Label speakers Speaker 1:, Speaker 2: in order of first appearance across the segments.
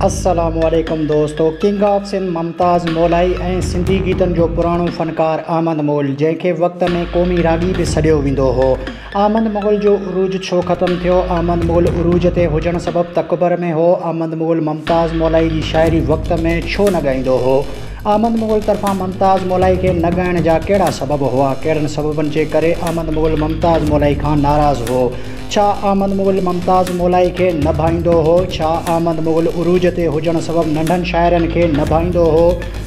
Speaker 1: السلام عليڪم دوستو ڪنگ آف سنڌ ممتاز مولائي ۽ سنڌي گيتن جو پراڻو فنڪار احمد مغل جنهن کي وقت ۾ قومي راڳي به سڏيو ويندو هو احمد مغل جو عروج ڇو ختم ٿيو احمد مغل عروج تي هجڻ سبب تڪبر ۾ هو احمد مغل ممتاز مولائي جي شاعري وقت ۾ ڇو نه ڳائيندو هو احمد مغل طرفان ممتاز مولائي کي نه ڳائڻ جا ڪهڙا سبب هئا ڪهڙن سببن جي ڪري احمد مغل ممتاز مولائي کان ناراض هو ڇا احمد مغل ممتاز مولائي کي نه ڀائيندو هو؟ ڇا احمد مغل عروج تي هجڻ سبب ننڍن شاعرن کي نه ڀائيندو هو؟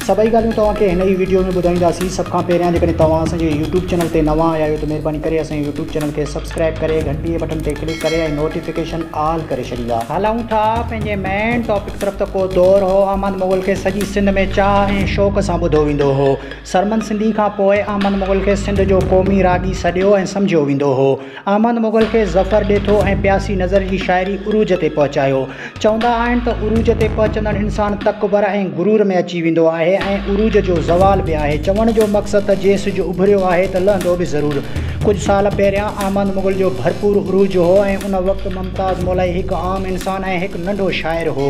Speaker 1: سڀئي ڳالهيون توهان کي هن ئي وڊيو ۾ ٻڌائينداسين. سڀ کان پهريان جيڪڏهن توهان اسان جي يوٽيوب چينل تي نوان آيا آهيو ته مهرباني ڪري اسان جي يوٽيوب چينل کي سبسڪرائب ڪري گهنٽيء بٽن تي ڪلڪ ڪري ۽ نوٽيفڪيشن آل ڪري ڇڏيندا. هلون ٿا پنهنجي مين ٽاپڪ طرف ته ڪو دور هو احمد مغل کي سڄي سنڌ ۾ چاهه ۽ شوق سان ٻڌو ويندو هو. سرمن سنڌي کان پوء احمد مغل کي سنڌ جو قومي راڳي سڏيو ۽ سمجهيو ويندو هو. احمد مغل کي ظفر ڏيٿو ۽ پياسي نظر جي شاعري عروج تي پهچايو. چوندا آهن ته عروج تي پهچندڙ انسان تڪبر ۽ غرور ۾ اچي ويندو آهي ۽ عروج جو زوال به آهي. چوڻ جو مقصد ته جي سج اڀريو آهي ته لهندو به ضرور. ڪجهه سال پهريان احمد مغل جو ڀرپور عروج هو ۽ ان وقت ممتاز مولائي هڪ عام انسان ۽ هڪ ننڍو شاعر هو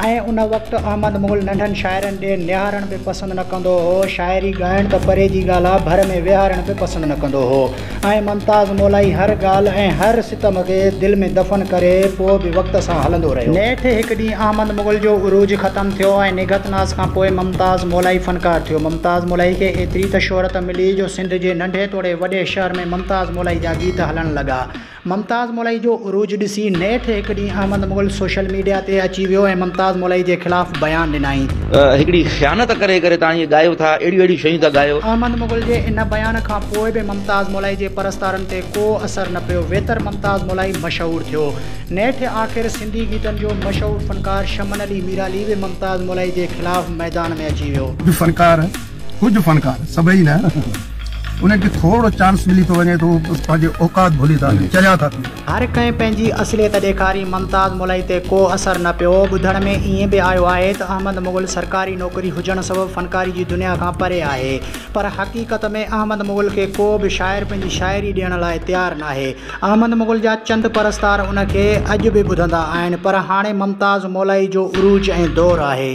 Speaker 1: ۽ ان وقت احمد مغل ننڍن شاعرن ڏي نهارڻ به پسند نه ڪندو هو. شاعري ڳائڻ ته پري جي ڳالهه آ، ڀر ۾ ويهارڻ به پسند نه ڪندو هو. ۽ ممتاز مولائي هر ڳالهه ۽ هر ستم کي دل ۾ دفن ڪري پوء به وقت سان هلندو رهيو. نيٺ هڪ ڏينهن احمد مغل جو عروج ختم ٿيو ۽ نگهت ناز کان پوء ممتاز مولائي فنڪار ٿيو. ممتاز مولائي کي ايتري ته شهرت ملي جو سنڌ جي ننڍي توڙي وڏي شهر ۾ ممتاز مولائي جا گيت هلڻ لڳا. ممتاز مولائي جو عروج ڏسي نيٺ هڪ ڏينهن احمد مغل سوشل ميڊيا تي اچي ويو ۽ ممتاز مولائي جي خلاف بيان ڏنائين. هڪڙي خيانت
Speaker 2: ڪري ڪري توهان ائين ڳايو ٿا اهڙيون اهڙيون شيون ٿا ڳايو. احمد مغل جي ان
Speaker 1: بيان کان پوء به ممتاز مولائي جي پرستارن تي ڪو اثر نه پيو ويتر ممتاز مولائي مشهور ٿيو نيٺ آخر سنڌي گيتن جو مشهور فنڪار شمن علي ميرالي به ممتاز مولائي جي خلاف ميدان ۾ اچي ويو. اڄ فنڪار ڪجهه
Speaker 3: فنڪار سڀئي نه انهن کي ٿورڙو چانس ملي ٿو وڃي ته هو پنهنجي اوقات ڀلي ٿا وڃن چريا ٿا ٿي وڃن. هر ڪنهن پنهنجي
Speaker 1: اصليت ڏيکاري ممتاز ملئي تي ڪو اثر نه پيو. ٻڌڻ ۾ ائين به آيو آهي ته احمد مغل سرڪاري نوڪري هجڻ سبب فنڪاري جي دنيا کان پري آهي پر حقيقت ۾ احمد مغل کي ڪو به شاعر پنهنجي شاعري ڏيڻ لاء تيار ناهي. احمد مغل جا چند پرستار ان کي اڄ به ٻڌندا آهن پر هاڻي ممتاز مولائي جو عروج ۽ دور آهي.